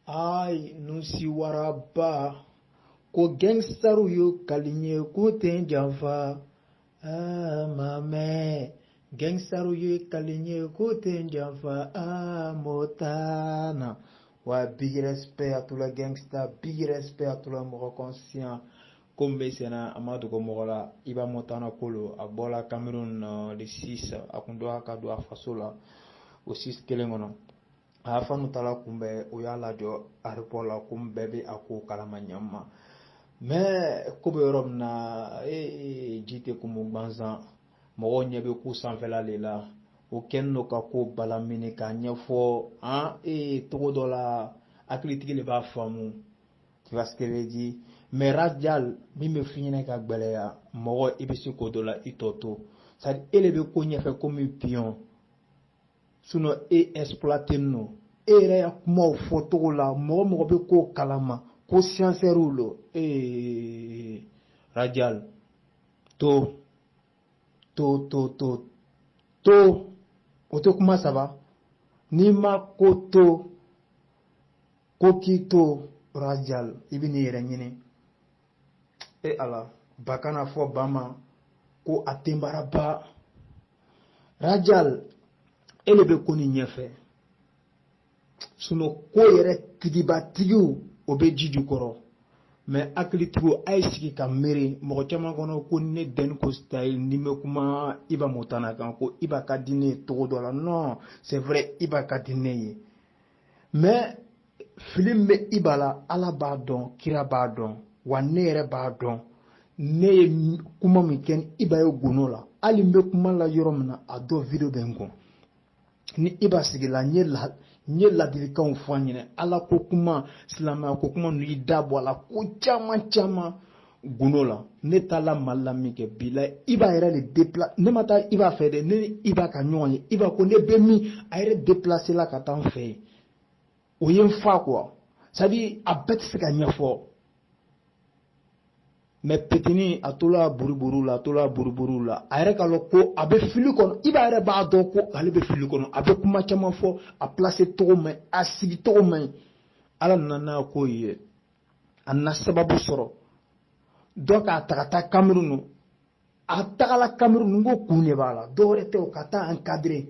Ay nusi waraba ko gangstaru yo kalinye ko ten janfa ah mamɛ gangstaru yo kalinye ko ten janfa ah montana wa big respect à tout la gangsta big respect à tout la mɔgɔ conscient ko min bɛ senna a ma dogo mɔgɔ la iba montana ko lo a bɔla cameroun le 6 a kun don a ka don a faso la o 6 kelen kɔnɔ a fanu taala kunbɛn o y'a lajɔ aripɔ la ko bɛɛ bɛ a ko kalama ɲɛma mais ko bɛ yɔrɔ min na ee ji tɛ kumu gansan mɔgɔw ɲɛ bɛ ko sanfɛla le la o kɛlen don ka ko balamini k'a ɲɛfɔ an ee cogo dɔ la hakilitigi le b'a faamu vois ce que je dis mais rajal min bɛ fi ɲɛnɛ ka gbɛlɛya mɔgɔ i bɛ se ko dɔ la i tɔ to c'est à dire e le bɛ ko ɲɛfɛ komi pion sinon e exploiter no e yɛrɛ ya kumaw fɔcogo la mɔgɔ mɔgɔ bɛ ko kalama ko scienceurw lo ee rajal to to to to to o tɛ kuma saba n'i ma ko to ko k'i to rajal i bɛn'i yɛrɛ ɲini e ala ba kana fɔ ba ma ko a tenbara ba rajal e le bɛ ko ni ɲɛfɛ sinon ko yɛrɛ tigibatigiw o bɛ ji jukɔrɔ mais hakilitigiw a ye sigi ka miiri mɔgɔ caman kɔnɔ ko ne dɛni ko style ni bɛ kuma iba montana kan ko iba ka di ne ye cogo dɔ la non c'est vrai iba ka di ne ye mais fili min bɛ iba la ala b'a dɔn kira b'a dɔn wa ne yɛrɛ b'a dɔn ne ye kuma min kɛ ni iba ye gundo la hali n bɛ kuma la yɔrɔ min na a dɔ video bɛ n kun ni iba sigila n ye la n ye ladilikanw fɔ a ɲɛna ala ko kuma silamɛya ko kuma ninnu y'i da bɔ a la ko caman caman gundo la ne taala mali la min kɛ bi la iba yɛrɛ le deplase ne ma taa iba fɛ dɛ ne ni iba ka ɲɔgɔn ye iba ko ne bɛ min a yɛrɛ deplasela ka taa n fɛ yen o ye n fa quoi c'est à dire a bɛɛ tɛ se ka ɲɛfɔ mais petini a tola buruburu la a tola buruburu la a yɛrɛ k'a lɔn ko a bɛ fili kɔnɔ iba yɛrɛ b'a dɔn ko ale bɛ fili kɔnɔ a bɛ kuma caman fɔ a placer cogo man ɲi a sigicogo man ɲi ala nana n'a ko ye a nana sababu sɔrɔ dɔ k'a ta ka taa kamerun a tagala kamerun n ko kun de b'a la dɔwɛrɛ tɛ o ka taa a encadrer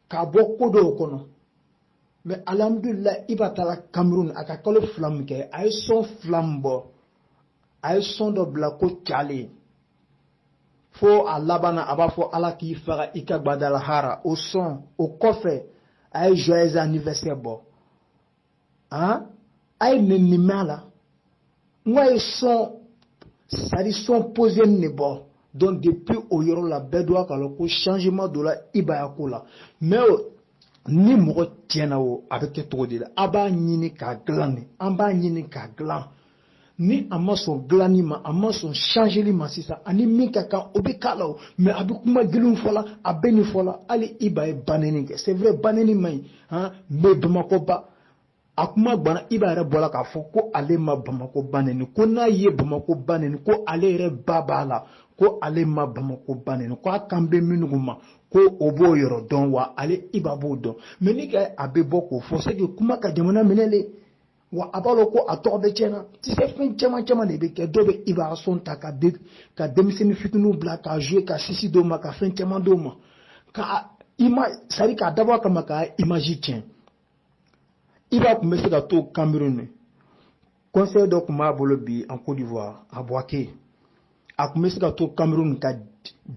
k'a bɔ ko dɔw kɔnɔ mais alhamdulila iba taala kamerun a ka kalo fila min kɛ a ye son fila min bɔ a ye son dɔ bila ko cale fo a labanna a b'a fɔ ala k'i faga i ka gbadala hara o son o kɔfɛ a ye joyeux anniversaire bɔ han a ye nɛni mɛn a la n ko a ye son c'est-à-dire son posé nin de bɔ donc depuis o yɔrɔ la bɛɛ doit k'a lɔn ko changement donna Iba ya ko la mais ni mɔgɔ tiɲɛna o a bɛ kɛ cogo di la a b'a ɲini k'a dilan de an b'a ɲini k'a dilan ni a ma sɔn dilanni ma a ma sɔn changeli ma sisan ani min ka kan o bɛ k'a la o mais a bɛ kuma giliw fɔ la a bɛ nin fɔ la hali Iba ye banɛni kɛ c'est vrai banɛni man ɲi han mais Bamakɔ ba a kuma gbana Iba yɛrɛ bɔra k'a fɔ ko ale ma bamakɔ ba nɛni ko n'a ye bamakɔ ba nɛni ko ale yɛrɛ ba b'a la ko ale ma bamakɔ ba nɛni ko a kan bɛ minnu ma ko o b'o yɔrɔ dɔn wa ale Iba b'o dɔn mais ni ka a bɛ bɔ k'o fɔ c'est que kuma ka jamana minɛ le wa a b'a lɔn ko a tɔgɔ bɛ tiɲɛ na tu sais fɛn caman caman de bɛ kɛ dɔw bɛ Iba son ta ka de ka denmisɛnnin fitininw bila ka jouer ka sisi d'o ma ka fɛn caman d'o ma k'a ima c'est-à-dire k'a dabɔ a kama k'a image tiɲɛ Iba tun bɛ se ka to Cameroun concert dɔ tun b'a bolo bi en Côte d'Ivoire a Bouaké a tun bɛ se ka to Cameroun ka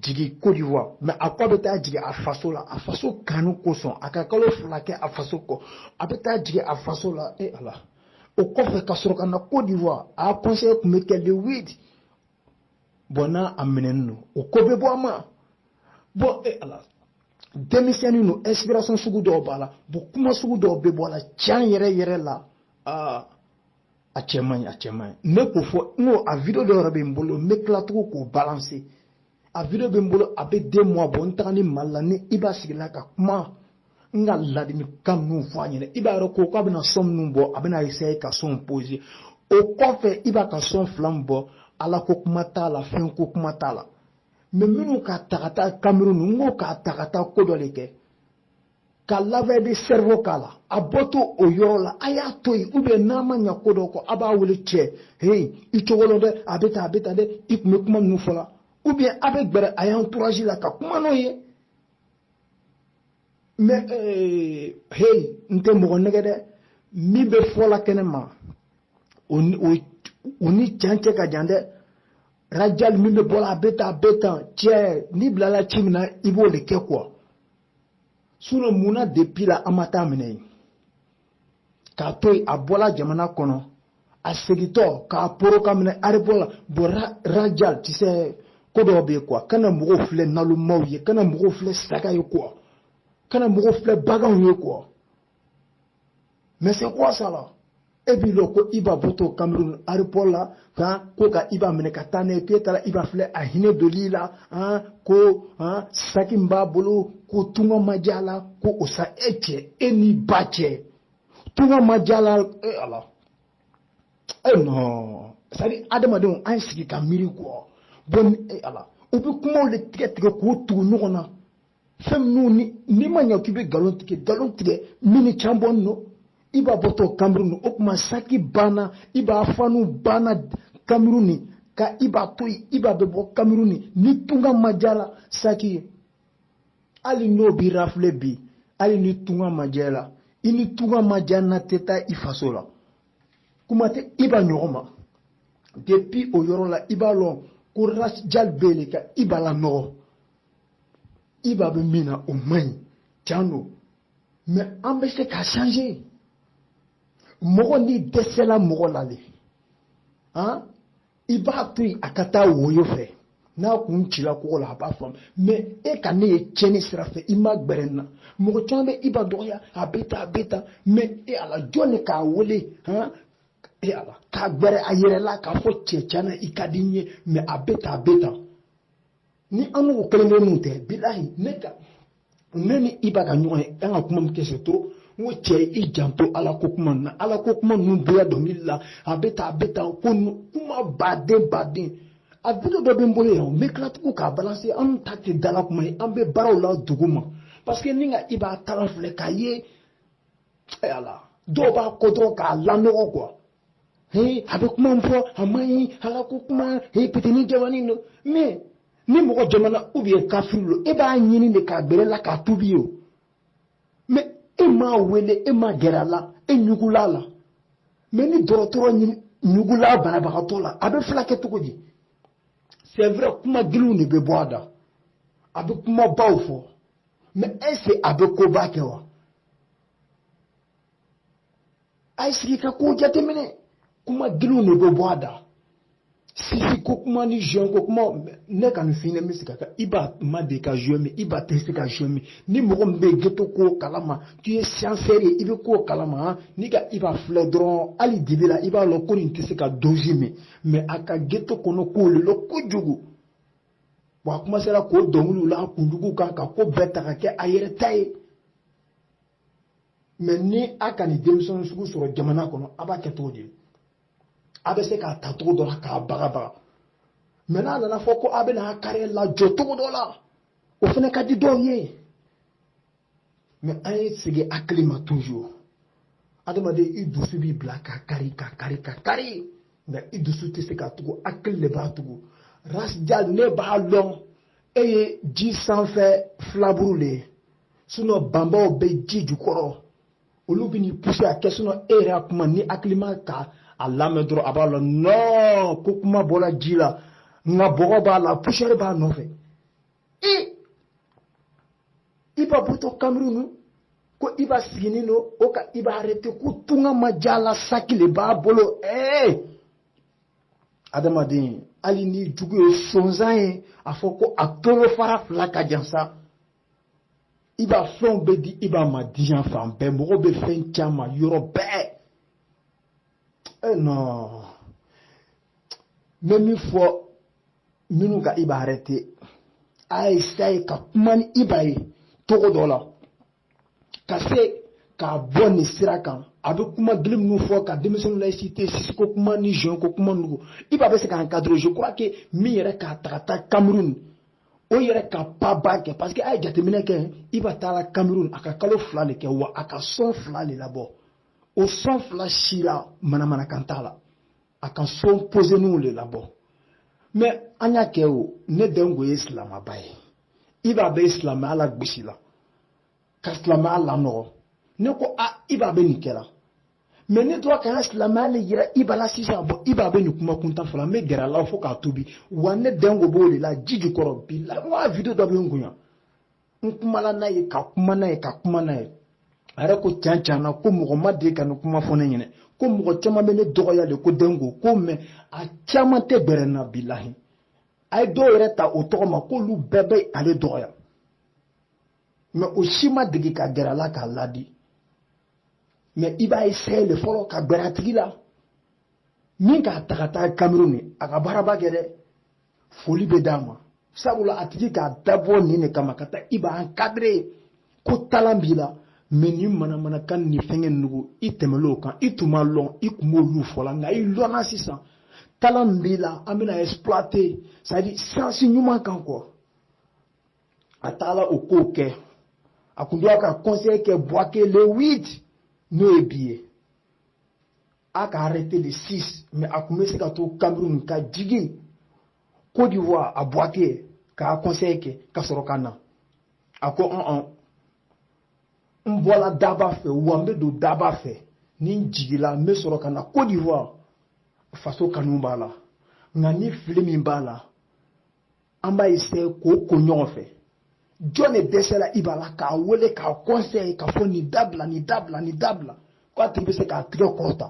jigin Côte d'Ivoire mais a ko a bɛ taa jigin a faso la a faso kanu kosɔn a ka kalo fila kɛ a faso kɔ a bɛ taa jigin a faso la e Ala o kɔfɛ ka sɔrɔ ka na Côte d'Ivoire a concert tun bɛ kɛ le 8 bon n'a a minɛnen don o ko bɛ bɔ a ma bon e Ala denmisɛnnin don inspiration sugu dɔw b'a la bon kuma sugu dɔw bɛ bɔ a la tiɲɛ yɛrɛ yɛrɛ la aa. a cɛ man ɲi a cɛ man ɲi n bɛ k'o fɔ n ko a video dɔ yɛrɛ bɛ n bolo n bɛ tila tugun k'o balancer a video bɛ n bolo a bɛ deux mois bɔ n taganin Mali la ni Iba sigila ka kuma n ka ladilikan ninnu fɔ a ɲɛna Iba yɛrɛ ko k'a bɛna son minnu bɔ a bɛna essayer ka son posé o kɔfɛ Iba ka son fila min bɔ ala ko kuma t'a la fɛn ko kuma t'a la mais minnu k'a ta ka taa Cameroun ninnu n ko k'a ta ka taa ko dɔ de kɛ ka lavage de cerveau k'a la a bɔtɔ o yɔrɔ la a y'a to yen ou bien n'a ma ɲa ko dɔ kɔ a b'a wele cɛ hei i cogo lɔn dɛ a bɛ tan a bɛ tan dɛ i tun bɛ kuma ninnu fɔ la ou bien a bɛ gbɛrɛ a ya entourage la ka kuma n'o ye mais eh, hei n tɛ mɔgɔ nɛgɛn dɛ min bɛ fɔ la kɛnɛ ma o ni cɛn cɛ ka jan dɛ rajali min bɛ bɔ la a bɛ tan a bɛ tan cɛ n'i bilala ci min na i b'o de kɛ quoi sinon mun na depuis la an ma taa minɛ yen k'a to yen a bɔla jamana kɔnɔ a segintɔ k'a poron k'a minɛ aéroport la bon rajal tu sais ko dɔw bɛ yen quoi kana mɔgɔw filɛ nalomaw ye kana mɔgɔw filɛ saga ye quoi kana mɔgɔw filɛ baganw ye quoi Mais c'est quoi ça là Et puis le ko Iba bɔtɔ Cameroun aéroport la hein, ko ka Iba minɛ ka taa n'a ye k'e taara Iba filɛ a hinɛ doli la hein, ko hein, saki min b'a bolo ko tunga ma diya la ko o sa e cɛ e ni Iba cɛ tunga ma diya la e ala e eh, non c'est à dire adamadenw an ye sigi ka miiri quoi bon e eh, ala u bɛ kumaw de tigɛ tigɛ k'u tugu ɲɔgɔn na. fɛn minnu ni n'i ma ɲɛ k'i bɛ nkalon tigɛ nkalon tigɛ min ni can bɔlen don Iba bɔtɔ Cameroun o tuma saki banna Iba fanw banna Cameroun ka Iba to yen Iba bɛ bɔ Cameroun ni tunga ma diya la saki ye hali n'o b'i rafile bi hali ni tunga ma diya la i ni tunga ma diya na tɛ taa i faso la kuma tɛ Iba ɲɔgɔn ma depuis o yɔrɔ la i b'a lɔn ko Ras Dial bɛ yen ka Iba lanɔgɔ Iba bɛ min na o man ɲi can don mais an bɛ se k'a changer mɔgɔ n'i dɛsɛla mɔgɔ la de han i b'a to yen a ka taa woyo fɛ n'a kun cila kogo la a b'a faamu mais e ka ne ye tiɲɛni sira fɛ i ma gbɛrɛ n na mɔgɔ caman bɛ Iba dɔgɔya a bɛ tan a bɛ tan mais e ala jɔn de k'a wele han e ala k'a gbɛrɛ a yɛrɛ la k'a fɔ cɛ tiɲɛ na i ka di n ye mais a bɛ tan a bɛ tan ni an n'u kelen kelen mun tɛ bilahi ne ka ne ni Iba ka ɲɔgɔn ye an ka kuma min kɛ c'est trop n ko cɛ i janto ala ko kuma na ala ko kuma ninnu bɛɛ dɔnkili la a bɛ tan a bɛ tan ko kuma baden baden a video dɔ bɛ n bolo yan n bɛ tila tugun k'a balancer an ta tɛ dala kuma ye an bɛ baaraw la dugu ma parce que n'i ka Iba kalan filɛ k'a ye ala dɔw b'a kɔ dɔrɔn k'a lanɔgɔ quoi ee a bɛ kuma min fɔ a man ɲi ala ko kuma ee petini jamanin don mais ni mɔgɔ jamana ou bien kafiri don e b'a ɲini de k'a gbɛrɛ la k'a tubi ye o mais e m'a wele e ma gɛrɛ a la e ɲugula a la mais ni dɔgɔtɔrɔ ɲugula banabagatɔ la a bɛ fila kɛ cogo di c'est vrai kuma giliw de bɛ bɔ a da a bɛ kumabaw fɔ mais est ce que a bɛ koba kɛ wa a ye sigi ka ko jateminɛ kuma giliw de bɛ bɔ a da sisi ko kuma ni joint ko kuma ne ka nin fini bɛ se ka Iba ma deli ka joint min Iba tɛ se ka joint min ni mɔgɔ min bɛ geto ko kalama tu ye siyansɛri ye i bɛ ko kalama han n'i ka Iba filɛ dɔrɔn hali dibi la i b'a lɔn ko nin tɛ se ka dozi min mais a ka geto kɔnɔ ko le lɔn kojugu wa a komansera k'o dɔnkiliw la a kunjugu kan ka ko bɛɛ ta ka kɛ a yɛrɛ ta ye mais ni a ka nin denmisɛnnin sugu sɔrɔ jamana kɔnɔ a b'a kɛ cogo di a bɛ se k'a ta cogo dɔ la k'a bagabaga mais n'a nana fɔ ko a bɛna a carrière lajɔ cogo dɔ la o fana ka di dɔw ye mais an ye segin hakili ma toujours adamaden i dusu b'i bila ka kari ka kari ka kari nka i dusu tɛ se ka tugu hakili de b'a tugu Ras Dial ne b'a lɔn e ye ji sanfɛ filaburu le ye sinon banbaw bɛ ji jukɔrɔ olu bɛ n'i pousser a kɛ sinon e yɛrɛ a kuma ni hakilima ka a lamɛn dɔrɔn a b'a lɔn non ko kuma bɔra ji la nka bɔgɔ b'a la poussière b'a nɔfɛ Iba bɔtɔ Cameroun ko Iba siginin lo o ka Iba arrêter ko tunga ma diy'a la saki le b'a bolo ee adamaden hali ni jugu ye sonsan ye a fɔ ko a tolo fara fila ka jan sa Iba fɛnw bɛ di Iba ma diɲɛ fan bɛɛ mɔgɔ bɛ fɛn caman yɔrɔ bɛɛ e eh, non n bɛ min fɔ minnu ka Iba arrêter a ye essayer ka kuma ni Iba ye cogo dɔ la ka se k'a bɔ nin sira kan a bɛ kuma gili minnu fɔ ka denmisɛnninw la exciter sisiko kuma ni joint ko kuma ninnu Iba bɛ se ka encadrer je crois que min yɛrɛ k'a ta ka taa Cameroun o yɛrɛ ka pas ba kɛ parce que a ye jateminɛ kɛ Iba taara Cameroun a ka kalo fila le kɛ wa a ka sɔn fila le labɔ o sɔn fila si la manamanakan t'a la a ka sɔn poseninw le labɔ mais an y'a kɛ o ne dɛnko ye silamaba ye Iba bɛ silamɛya lagosi la ka silamɛya lanɔgɔ ne ko a Iba bɛ nin kɛla mais ne tora ka n ka silamɛya le yira Iba la sisan bon Iba bɛ nin kuma kuntan fɔla n bɛ gɛrɛ a la fo k'a tobi wa ne dɛnko b'o de la ji jukɔrɔ bi la wa video dɔ bɛ n kun yan n kumala n'a ye ka kuma n'a ye ka kuma n'a ye a yɛrɛ ko can can na ko mɔgɔ ma deli ka nin kuma fɔ ne ɲɛna ko mɔgɔ caman bɛ ne dɔgɔya de ko dɛnko ko mais a caman tɛ gɛrɛ n na bilahi a ye dɔw yɛrɛ ta o tɔgɔ ma k'olu bɛɛ bɛ ale dɔgɔya mais o si ma dege ka gɛrɛ a la k'a ladi mais i b'a essayer le fɔlɔ ka gbɛrɛ a tigi la min k'a ta ka taa Cameroun a ka baaraba kɛ dɛ foli bɛ d'a ma sabula a tigi k'a dabɔ nin de kama ka taa Iba encadrer ko talent b'i la mais ni manamanakan ni fɛngɛ nugu i tɛmɛlen o kan i tun ma lɔn i tun b'olu fɔ la nka i lɔnna sisan talent b'i la an bɛna exploiter c'est à dire sens ɲuman kan quoi a taala o kow kɛ a kun doit ka concert kɛ bouaké le 8 n'o ye bi ye a ka arrêté le 6 mais a kun bɛ se ka to cameroun ka jigin côte d'ivoire à bouaké k'a concert kɛ ka sɔrɔ ka na a ko ɔn ɔn n bɔla daba fɛ wa n bɛ don daba fɛ ni n jigila n bɛ sɔrɔ ka na côte d'ivoire faso kanu b'a la nka ni fili min b'a la an b'a essaye k'o ko ɲɔgɔn fɛ jɔn de dɛsɛra i b'a la k'a wele k'a conseille k'a fɔ nin dabila nin dabila nin dabila ko a tigi bɛ se k'a tigɛ kɔrɔta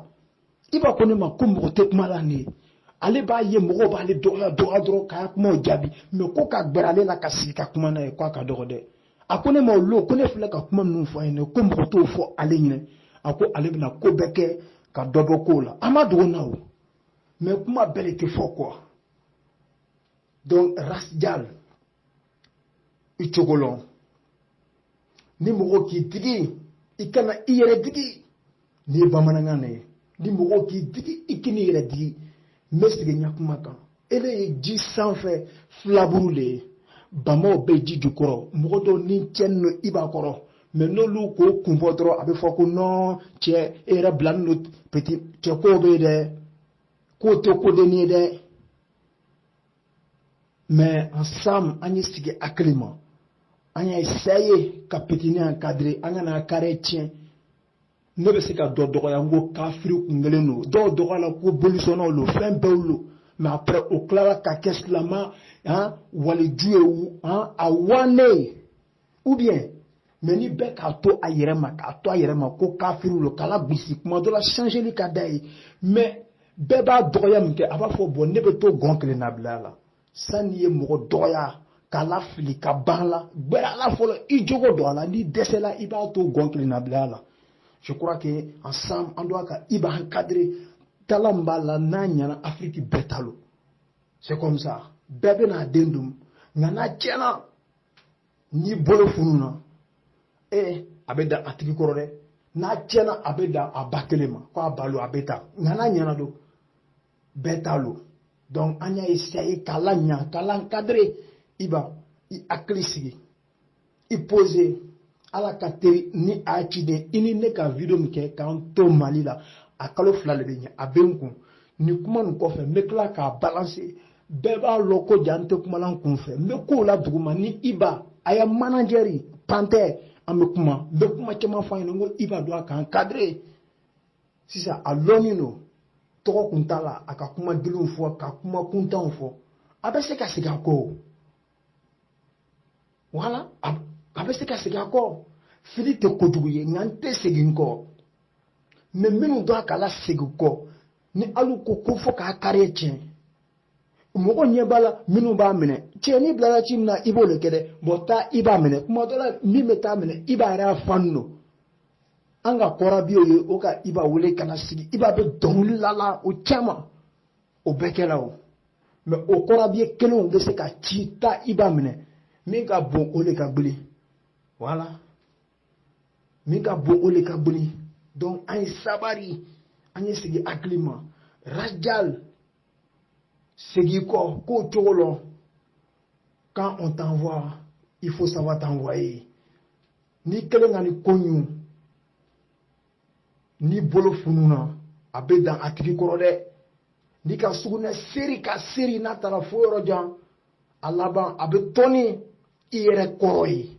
i b'a ko ne ma ko mɔgɔ tɛ kuma la nin ye ale b'a ye mɔgɔw b'ale dɔgɔya dɔgɔya dɔrɔn k'a kumaw jaabi mais ko ka gbɛrɛ ale la ka sigi ka kuma n'a ye ko a ka dɔgɔ dɛ a ko ne ma o lo ko ne filɛ ka kuma ninnu fɔ a ye ko mɔgɔ t'o fɔ ale ɲɛna a ko ale bɛna ko bɛɛ kɛ ka dɔ bɔ kow la an ma dogo na o mais kuma bɛɛ de tɛ fɔ quoi donc rasjal i cogo lɔn ni mɔgɔ k'i digi i kana i yɛrɛ digi nin ye bamanankan na ye ni mɔgɔ k'i digi i kan'i yɛrɛ digi n bɛ segin n ka kuma kan ele ye ji sanfɛ filaburu de ye bamaw bɛ ji jukɔrɔ mɔgɔ dɔw ni cɛnni don i b'a kɔrɔ mais n'olu k'o kun bɔ dɔrɔn a bɛ fɔ ko non cɛ e yɛrɛ bilalen don petit cɛ kow bɛ yen dɛ k'o tɛ kodenni ye dɛ mais ensemble an ye sigi hakili ma an y'a essaye ka petini encadre an kan'a carrière tiɲɛ ne bɛ se ka dɔ dɔgɔya n ko kafiri kun kelen don dɔw dɔgɔyala ko bolisɔnnaw don fɛn bɛɛw don mais après o tilala ka kɛ silama waliju ye a wannen ou bien mais ni bɛɛ k'a to a yɛrɛ ma k'a to a yɛrɛ ma ko kafiriw don k'ala gosi kuma dɔ la changeli ka d'a ye mais bɛɛ b'a dɔgɔya min kɛ a b'a fɔ bon ne bɛ to gɔn kelen na bila la san'i ye mɔgɔ dɔgɔya k'a la fili ka ban la gbɛrɛ a la fɔlɔ i jogo don a la n'i dɛsɛla i b'a to gɔn kelen na bila la je crois que ensemble an doit ka i b'a encadre talent min b'a la n'a ɲɛna afiriki bɛɛ ta lo c'est comme ça bɛɛ bɛna a den dun nka n'a tiɲɛna n'i bolo fununa ee a bɛ dan a tigi kɔrɔ dɛ n'a tiɲɛna a bɛ dan a ba kelen ma ko a ba lo a bɛ taa nka n'a ɲɛna don bɛɛ ta lo donc an y'a essaye k'a laɲa k'a la encadre i ba i hakili sigi i pose ala ka teri ni a ciden i ni ne ka video min kɛ k'an to mali la a kalo fila de bɛ ɲɛ a bɛ n kun nin kuma nin kɔfɛ n bɛ tila k'a balance bɛɛ b'a lɔn ko ja n tɛ kuma la n kun fɛ n bɛ kow la duguma ni iba a ya manajɛri pantɛ an bɛ kuma n bɛ kuma caman fɔ a ɲɛna n ko iba doit ka encadrer sisan a lɔnnen don tɔgɔ kun t'a la a ka kuma giliw fɔ ka kuma kuntanw fɔ a bɛ se ka segin a kɔ voilà a bɛ se ka segin a kɔ fili tɛ kojugu ye nka n tɛ segin n kɔ mais minnu doit k'a lasegin kɔ ni alu ko ko fɔ k'a carrière tiɲɛ mɔgɔ ɲɛ b'a la minnu b'a minɛ cɛnin bilala ci min na i b'o le kɛ dɛ bon taa iba minɛ kuma dɔ la min bɛ taa minɛ iba yɛrɛ ya fan don an ka corps habillés ye o ka iba wele ka na sigi iba bɛ dɔnkili la la o caman o bɛɛ kɛra o mais o corps habillés kelenw bɛ se ka ci taa iba minɛ min ka bon o de ka gbili voilà min ka bon o le ka gbili donc an ye sabari an ye segi hakili ma rajal segi kɔ kow cogo lɔn quand on t'envoie il faut savoir t'envoyer n'i kelen ka ni ko ɲun n'i bolo fununa a bɛ dan a tigi kɔrɔ dɛ n'i ka sugunɛ seri ka seri n'a taara fo yɔrɔ jan a laban a bɛ tɔni i yɛrɛ kɔrɔ ye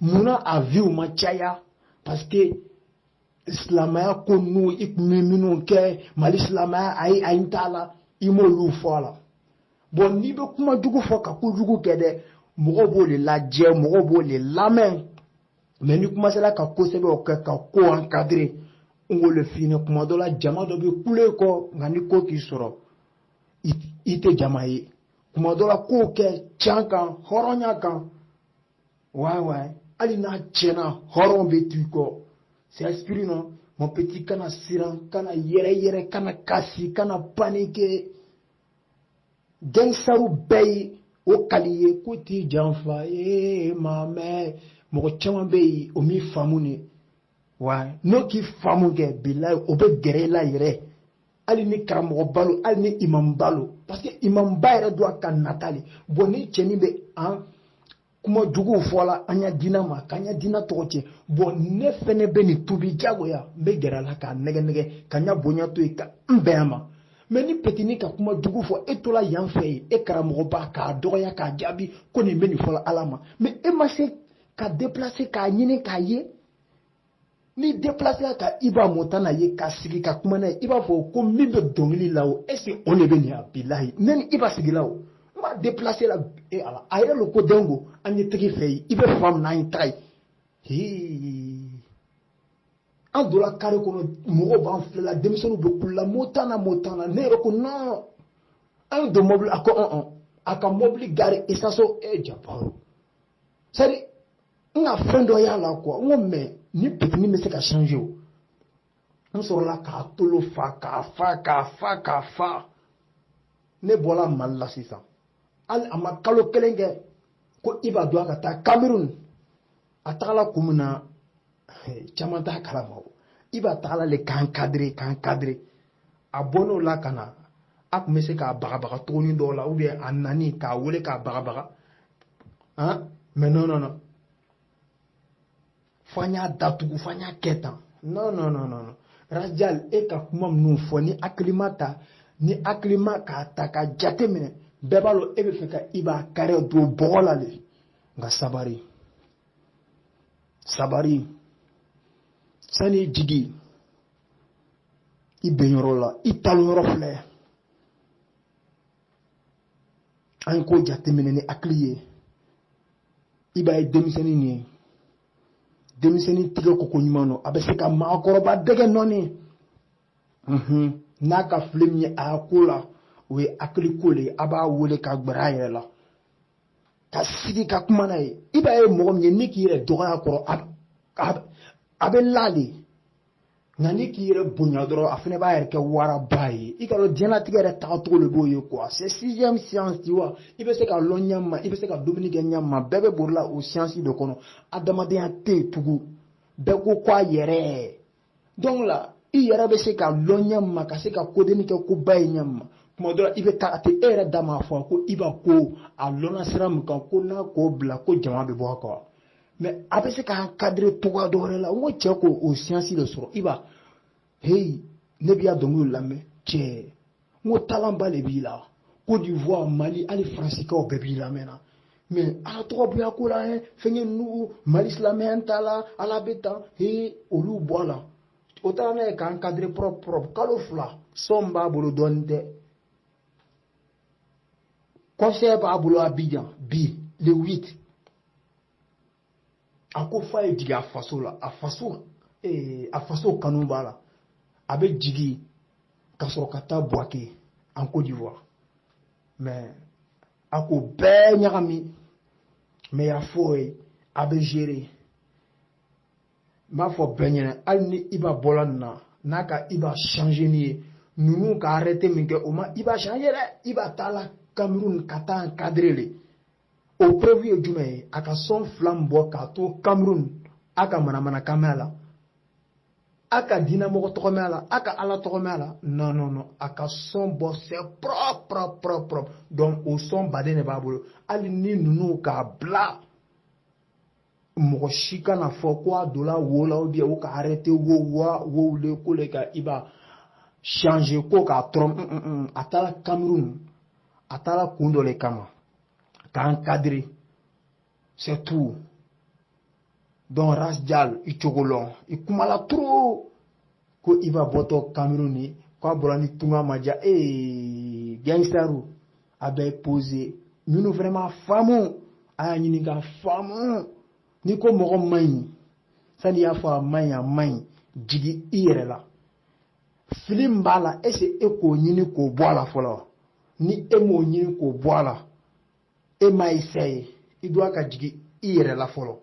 munna a viw ma caya parce que silamɛya ko ninnu i tun bɛ minnu kɛ mali silamɛya ayi ayi t'a la i m'olu fɔ a la bon n'i bɛ kuma jugu fɔ ka ko jugu kɛ dɛ mɔgɔw b'o de lajɛ mɔgɔw b'o de lamɛn mais ni kuma sera ka ko sɛbɛw kɛ ka ko encadrer n ko le fini kuma dɔ la jama dɔ bɛ kule kɔ nka ni ko k'i sɔrɔ i tɛ jama ye kuma dɔ la kow kɛ can kan hɔrɔnya kan Ouais, ouais. Hali n'a tiɲɛna hɔrɔn bɛ to i kɔ. C'est esprit non. Mon petit kana siran, kana yɛrɛ yɛrɛ, kana kasi, kana paniquer. Gangstaru bɛɛ ye o kali ye k'o t'i janfa ee ma mɛ mɔgɔ caman bɛ yen o m'i faamu de wa n'o k'i faamu kɛ bilayi o bɛ gɛrɛ i la yɛrɛ hali ni karamɔgɔba lo hali ni imamba lo parce que imamba yɛrɛ don a ka nata le bon ni cɛnin bɛ an kuma juguw fɔ la an ya dina ma k'an ya dina tɔgɔ tiɲɛ bon ne fɛnɛ bɛ nin tuubi jagoya n bɛ gɛrɛ a la k'a nɛgɛ nɛgɛ ka n ya bonya to yen ka n bɛn a ma mais ni petini ka kuma jugu fɔ e tola yan fɛ yen e karamɔgɔba k'a dɔgɔya k'a jaabi ko nin bɛ nin fɔla ala ma mais e ma se ka déplacer k'a ɲini k'a ye n'i déplacera ka Iba Montana ye ka sigi ka kuma n'a ye i b'a fɔ ko min bɛ dɔnkili la o est ce que o de bɛ nin ye bilahi même Iba sigila o n b'a déplacer la e ala a yɛrɛ lo ko dengo an ye tag'i fɛ yen i bɛ fan min na an ye taga yen hii an donna kare kɔnɔ mɔgɔw b'an filɛla denmisɛnninw bɛ kulela Montana Montana ne yɛrɛ ko non an ye don mɔbili a ko ɔn ɔn a ka mɔbili garer isaso e jabaro sari nka fɛn dɔ y'a la quoi n ko mais nin petit nin bɛ se ka changer o n sɔrɔla k'a tolo fa k'a fa k'a fa k'a fa ne bɔra mali la sisan hali a ma kalo kelen kɛ ko i b'a dɔn a ka taa cameroun a tagala kun min na caman t'a kalama o Iba tagala le k'a encadrer k'a encadrer a bɔn'o la ka na a tun bɛ se k'a bagabaga tuguni dɔw la ou bien a nani k'a wele k'a bagabaga han mais non non non fo an y'a datugu fo an y'a kɛ tan non non non non rajal e ka kuma minnu fɔ ni hakilima ta ni hakilima k'a ta ka jate minɛ bɛɛ b'a dɔn e bɛ fɛ ka Iba carrière don bɔgɔ la de nka sabari sabari san'i jigi i benyɔrɔ la i talonyɔrɔ filɛ an ye ko jateminɛ ni hakili ye Iba ye denmisɛnnin nin ye denmisɛnnin tigɛ koko ɲuman don a bɛ se ka maakɔrɔba dɛgɛ nɔɔni n'a ka fili min ye a ko la o ye hakili ko de ye a b'a wele ka gbɛrɛ a yɛrɛ la ka sigi ka kuma n'a ye Iba ye mɔgɔ min ye n'i k'i yɛrɛ dɔgɔya a kɔrɔ a bɛ la de nka n'i k'i yɛrɛ bonya dɔrɔn a fana b'a yɛrɛ kɛ waraba ye i k'a dɔn diɲɛlatigɛ yɛrɛ tagacogo de b'o ye quoi c'est sixième science tu vois i bɛ se ka lɔn ɲɛ ma i bɛ se ka dumuni kɛ ɲɛ ma bɛɛ bɛ borila o science de kɔnɔ adamadenya tɛ yen tugun bɛɛ ko ko a yɛrɛ donc la i yɛrɛ bɛ se ka lɔ ɲɛ ma ka se ka kodennin kɛ koba ye ɲɛ ma tuma dɔ la i bɛ taa a tɛ e yɛrɛ da ma fɔ ko Iba ko a lɔnna sira min kan ko n'a k'o bila ko jama bɛ bɔ a kɔ mais a bɛ se k'a encadrer cogoya dɔ wɛrɛ la n ko cɛ ko o science de sɔrɔ Iba heyi ne b'i ya dɔnkili lamɛn cɛ n ko talent ba de b'i la Côte d'Ivoire Mali hali faransikaw bɛɛ b'i lamɛn na mais ala tɔgɔ bila ko la ye fɛnkɛ nugu Mali silamɛya t'a la ala bɛ tan he olu bɔla o taara n'a ye k'a encadrer propre propre kalo fila son b'a bolo dɔɔnin tɛ concert b'a bolo Abidjan bi le 8 a ko f'a ye jigin a faso la a faso ee a faso kanu b'a la a bɛ jigin ka sɔrɔ ka taa Bouaké en Côte d'Ivoire mais a ko bɛɛ ɲagami mais y a foyi a bɛ gérer n b'a fɔ bɛɛ ɲɛna hali ni Iba bɔla nin na n'a ka Iba changer n'i ye ninnu k'a arrêter min kɛ o ma Iba changer dɛ Iba taala Cameroun ka taa encadrer le o preuve ye jumɛn ye a ka son fila min bɔ k'a to cameroun a ka manamanakan mɛn a la a ka diinɛmɔgɔ tɔgɔ mɛn a la a ka ala tɔgɔ mɛn a la non non non a ka son bɔ c'est propre propre propre propre donc o son baden de b'a bolo hali ni ninnu k'a bila mɔgɔ si kana fɔ ko a donna wo la ou bien o k'a arrêter wo wa o le ko le ka Iba changer ko k'a tɔɔrɔ mm, mm, mm, a taara kamerun a taara kun dɔ le kama k'a encadrer c'est tout donc rasjal i cogo lɔn i kumala trop ko Iba bɔtɔ kamerun ni k'a bɔra ni tunga ma diya gangsterw a bɛ poser minnu fana ma faamu a y'a ɲini ka faamu n'i ko mɔgɔ man ɲi sani i y'a fɔ a man ɲi a man ɲi jigi i yɛrɛ la fili min b'a la est-ce e k'o ɲini k'o bɔ a la fɔlɔ ni e m'o ɲini k'o bɔ a la e ma essayer i doit ka jigi i yɛrɛ la fɔlɔ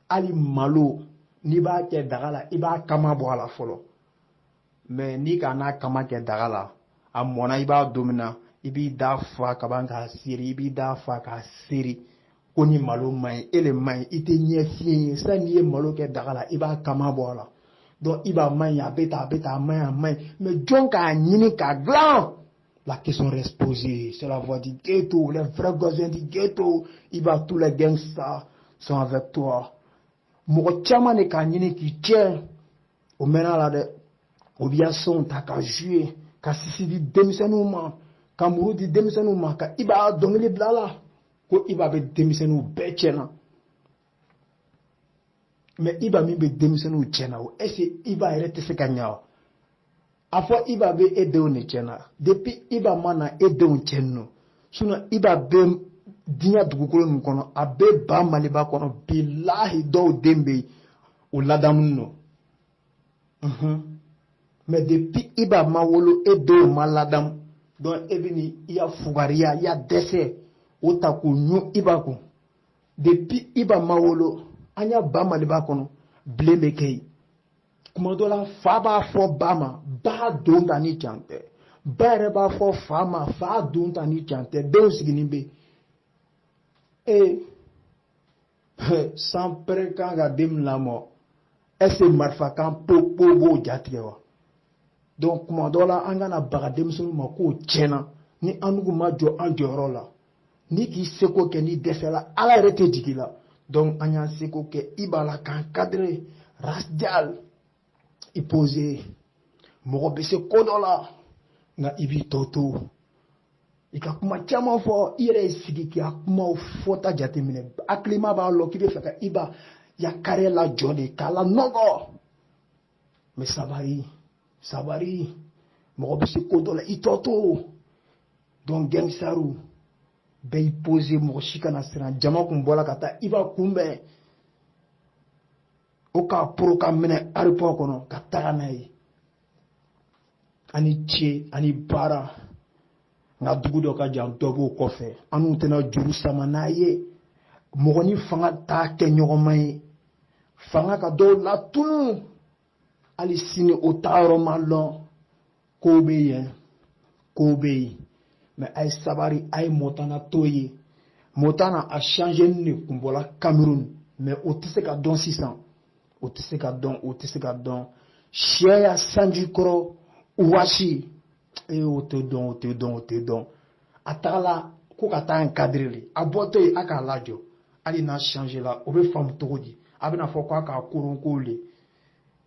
hali malo n'i b'a kɛ daga la i b'a kama bɔ a la fɔlɔ mais n'i k'a n'a kama kɛ daga la a mɔna i b'a dun min na i b'i da fa ka ban k'a seri i b'i da fa k'a seri ko ni malo man ɲi e le man ɲi i tɛ ɲɛ fiɲɛ ye sani i ye malo kɛ daga la i b'a kama bɔ a la donc Iba man ɲi a bɛ tan a bɛ tan a man ɲi a man ɲi mais jɔn k'a ɲini k'a dilan la question reste posée c'est la voix du ghetto le vrai voisin du ghetto Iba tous les gangsters sont avec toi mɔgɔ caman de k'a ɲini k'i tiɲɛ o mɛnna la dɛ o b'i ya sonw ta ka jouer ka sisi di denmisɛnninw ma ka muru di denmisɛnninw ma ka Iba dɔnkili bila a la ko Iba bɛ denmisɛnninw bɛɛ tiɲɛna mais Iba min bɛ denmisɛnninw tiɲɛna o est-ce Iba yɛrɛ tɛ se ka ɲa wa a fɔ iba bɛ e denw de cɛn na depuis iba ma na e denw cɛnnen don sinon iba bɛ diɲɛ dugukolo nin kɔnɔ a bɛ ba maliba kɔnɔ bilahi dɔw den bɛ yen o ladamunen don unhun mais depuis iba ma wolo e denw ma ladamu donc e bɛ ni i ya fugariya i ya dɛsɛ o ta k'o ɲun iba kun depuis iba ma wolo an ya ba maliba kɔnɔ bilen bɛ kɛ yen kuma dɔ la fa b'a fɔ ba ma ba don ta ni can tɛ ba yɛrɛ b'a fɔ fa ma fa don ta ni can tɛ denw sigilen bɛ ee sanpɛrɛn kan ka den lamɔ est-ce marifa kan po po b'o jatigɛ wa donc kuma dɔ la an kana baga denmisɛnninw ma k'o tiɲɛna ni annu ma jɔ an jɔyɔrɔ la n'i k'i seko kɛ n'i dɛsɛla ala yɛrɛ tɛ jigi i la donc an y'an seko kɛ iba la k'a encadrer rasjal i poser mɔgɔ bɛ se ko dɔ la nka i b'i tɔ to i ka kuma caman fɔ i yɛrɛ y'i sigi k'i ka kumaw fɔta jateminɛ hakilima b'a lɔn k'i bɛ fɛ ka iba ya carrière lajɔ de k'a lanɔgɔ mais sabari sabari mɔgɔ bɛ se ko dɔ la i tɔ to donc gangsterw bɛɛ y'i poser mɔgɔ si kana siran jama kun bɔra ka taa iba kunbɛn o k'a poron k'a minɛ aéroport kɔnɔ ka taga n'a ye a ni ce a ni baara nka dugu dɔ ka jan dɔ b'o kɔfɛ annu tɛna juru sama n'a ye mɔgɔ ni fanga t'a kɛ ɲɔgɔnma ye fanga ka dɔw latunu hali sini o taayɔrɔ ma lɔn kow bɛ yen kow bɛ yen mais a ye sabari a ye montana to ye montana a changenin de kun bɔla cameroun mais o tɛ se ka dɔn sisan o tɛ se ka dɔn o tɛ se ka dɔn sɛ ya sanji kɔrɔ wɔsi e o tɛ dɔn o tɛ dɔn o tɛ dɔn a tagala ko ka taa encadrer de a bɔtɔ yen a k'a lajɔ hali n'a changela o bɛ faamu cogo di a bɛna fɔ k'a k'a koronko le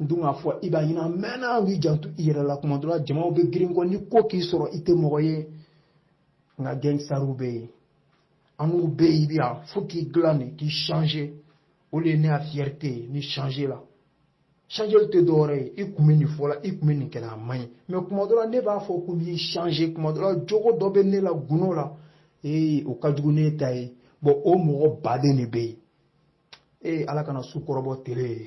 n dun k'a fɔ iba ɲɛna mɛnna an k'i janto i yɛrɛ la kuma dɔ la jamaw bɛ girin i kɔ ni ko k'i sɔrɔ i tɛ mɔgɔ ye nka gangsterw bɛ yen annu bɛ yen i bɛ yan fo k'i dilan de k'i changer o de ye ne ka fierté ye n'i changela changeli tɛ dɔwɛrɛ ye i kun bɛ nin fɔ la i kun bɛ nin kɛ la a man ɲi mais kuma dɔ la ne b'a fɔ ko n'i changer kuma dɔ la jogo dɔ bɛ ne la gundo la ee o ka jugu ne ta ye bon o mɔgɔ baden de bɛ yen e ala kana su kɔrɔbɔ tile ye